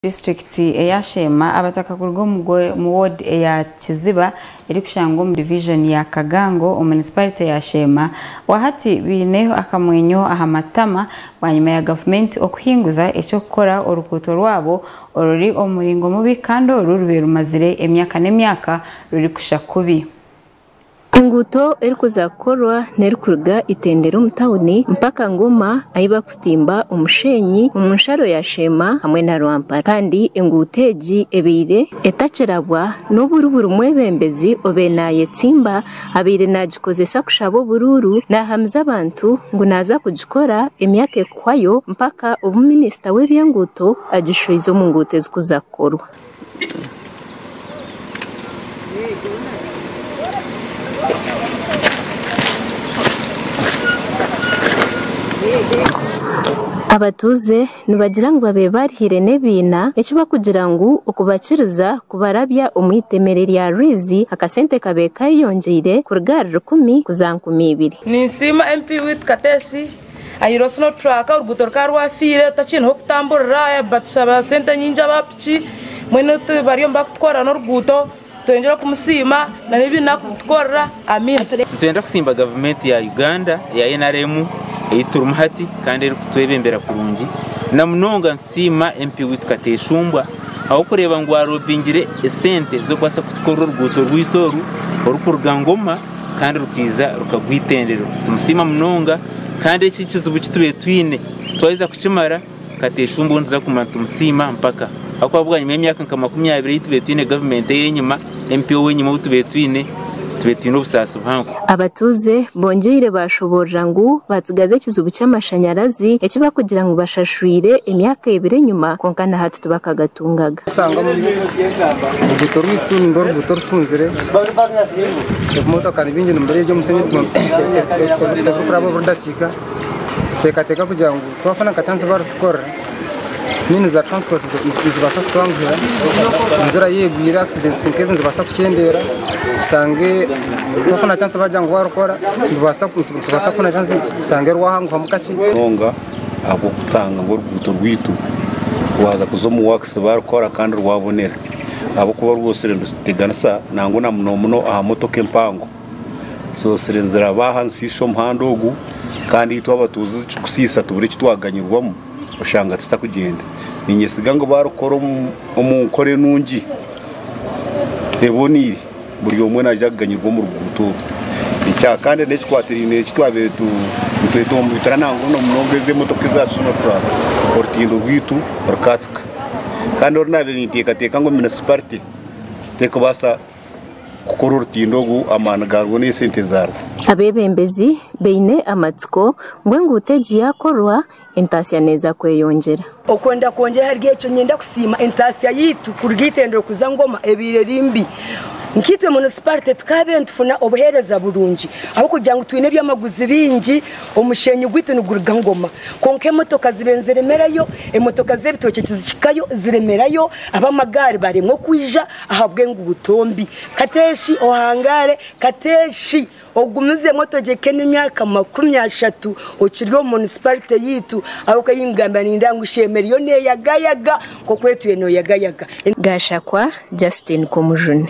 Disiturikiti eya Sheema abataka kuruga omu ward eya Kiziba erikushangwa omu divijoni ya Kagango omu munisiparite ya Sheema wahati baine akamwenyo aha matama bwanyima ya gavumenti okuhinguza eky'okukora orukuuto rwabo oruri omu muringo mubi kandi oru rubaire rumazire emyaka n'emyaka rurikushwa kubi. Enguuto erikuza kukorwa n'erikuruga Itendero omu tauni mpaka Ngoma ahi barikutimba omusheenyi omu nsharo ya Sheema hamwe na Rwampara kandi enguuto egi ebaire etakirabwa n'oburi buri mwebembezi obaire naayetsimba abaire naagikozesa kushaba oburuuru naahamiza abantu ngu naaza kugikora emyaka erikuhwayo mpaka obu minisita w'ebyenguuto agishwize omu nguuto ezikuza kukorwa. Abatuuze nibagira ngu babaire baarihire n'ebiina eki barikugira ngu okubakiriza kubarabya omu itemere rya Rwizi akasente kabaire keeyongyeire kuruga ahari rukumi kuza aha nkumi ibiri. Ninsiima MP waitu Kateesi Ayi'ra osi no truck oruguuto rukaba rwafiire otakyineho kutamburira batushaba sente nyingi aba piki mbwenu bariyo nibakutukorera noruguuto nitweyongyera okumusiima na nebi naku kutukorera Amina. Nitwenda kusiimba gavumenti ya Uganda eya nrm eyiturimu hati kandi erikutwebembera kurungi namunonga. Siima MP waitu Kateeshumbwa ahabw'okureeba ngu waaroobingire esente ez'okubaasa kutukorera oruguuto rwaitu oru orikuruga Ngoma kandi rukaija rukagwa Itendero. Nitumusima munonga kandi eki ekizibu eki tubaire twine twaheza kukimara, Kateeshumbwa ou nituza kuguma nitumusiima mpaka ahabw'okuba bwanyima y'emyaka nka makumi abiri ei tubaire twine gavumenti ey'enyima, empi ow'enyima ou tubaire twine, tubaire twine obusaasi buhango. Abatuuze bongyeire baashoboorora ngu baatsigaza ekizibu ky'amashanyarazi eki barikugira ngu bashashwire emyaka ebiri enyima kwonka na hati tibakagatungaga. Kushangamu oruguuto rwaitu ninga oruguuto orufunzire, ebimotooka ni bingi nibireeja omushenyi ebirikuraba buri dakiika, nituteekateeka kugira ngu twafuna nka chansi baritukorera. Nyowe niza transport nizibaasa kutanguhira ninzira yegwire accidents nk'ezi nizibaasa kukyendeera oshange tofuna chance bagira ngu warikora nibaasa tibaasa kufuna chance oshange wahanguhamu kakye munonga ahabw'okutanga ngu oruguuto rwaitu waaza kuza omu works barikukora kandi rwabonera ahabw'okuba rwotsire nituteganisa nangwa na muno muno aha motoka empango. Ensoosire niziraba aha nsi shi omuhanda ogu kandi itwe abatuuze ekirikusiisa tubura eki twaganyirwamu oshanga tutakugyenda. Niinyesiga ngu baarikukora omu nkora enungi eboneire buri omwe naija kuganyirwa omu ruguuto oru. Ekya kandi n'ekikwatiraine eki twabaire nitweta omu bitura nangwa na munonga ezi emotoka eza Sinotruk orutindo rwaitu rukahatuka. Kandi oru naabaire ninteekateeka ngu munisiparite terikubaasa. kukora orutindo ogu amaani gaarwo n'esente zaarwo. Abeebembezi baine amatsiko ngu enguuto egi yaakorwa, entaatsya neeza kweyongyera. Okwo ndakwongyera ahari ekyo, niinyenda kusiima entaatsya yaitu kuruga eitendero kuza Ngoma ebaire eri mbi. Nkaitwe munisipaarite tukaabaire nitufuna obuheereza burungi ahabw'okugira ngu twine ebyamaguzi bingi, omusheenyi gwaitu niguruga Ngoma. Kwonka emotoka zibaire niziremerayo, emotoka z'ebitookye tizihikayo, ziremerayo, ab'amagaari baremwa okwija, Ahabw'enguuto mbi, kateeshi ohangaare, kateeshi ogumizeemu otogyeke n'emyaka makumi ashatu okiri omu munisiparite yaitu ahabw'okuba ei nkugambira nindeeba ngu shi emere yo neeyagayaga nk'oku etwire nooyagayaga. Gashakwa Justine Komujuni.